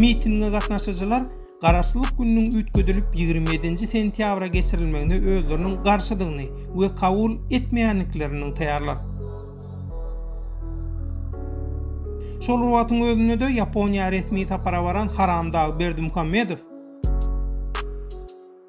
Mitinge gatnaşyjylar Garaşsyzlyk gününiň üýtgedilip ýigrimi ýedinji sentýabra geçirilmegine özleriniň garşydygyny we kabul etmeýändiklerini nygtaýarlar. Şol wagtyň özünde-de Ýaponiýa resmi sapara baran Haramdag Berdimuhamedow,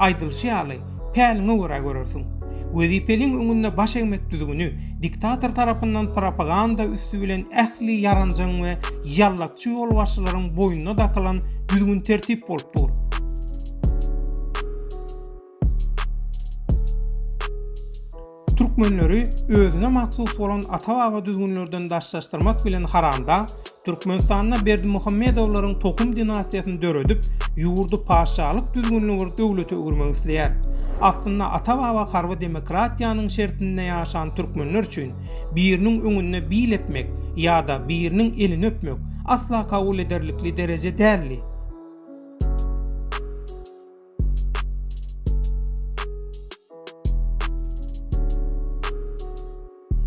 Aýdylyşy ýaly, päliňe görä görersiň. Wezipeliň öňünde baş egmek düzgüni diktator tarapyndan propaganda üsti bilen ähli ýaranjaň we ýallakçy ýolbaşçylaryň boýnuna dakylan düzgün-tertip bolup dur. Türkmenleri özüne mahsus bolan ata-baba düzgünlerden daşlaşdyrmak bilen haramdag Türkmenistanda Berdimuhamedowlaryň tohum dinastiýasyny döredip, ýurdy paşşalyk düzgünli bir döwlete öwürmek isleýär. Aslynda ata-baba harby demokratiýanyň şertinde ýaşan türkmenler üçin biriniň öňünde bil epmek ýa-da biriniň elini öpmek asla kabul ederlikli dereje däldi.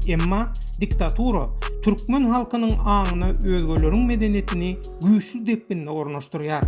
Emma diktatura türkmen halkynyň aňyna özgeleriň medeniýetini güýçli depginde ornaşdyrýar.